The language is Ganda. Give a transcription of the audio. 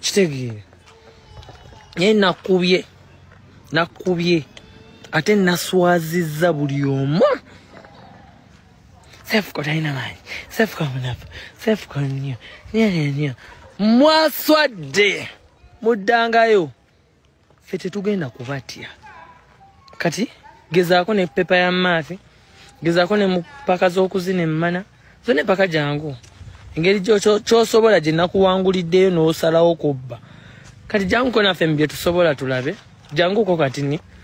kitegeere naye nakubye nakubye ate naswazizza buli omu sefuka talina maanyi sefuka munafu sefuka nnyo nyo nyo mwaswadde muddangayo ffe tetugenda kubatya kati gezaako ne pepa ya maafi gezaako ne mupaka z'okuzina emmana zo ne paka jangu engeri kyosobola gye nakuwanguliddeyo n'osalawo kubba kati janguko naffe mu bye tusobola tulabe janguko kati ni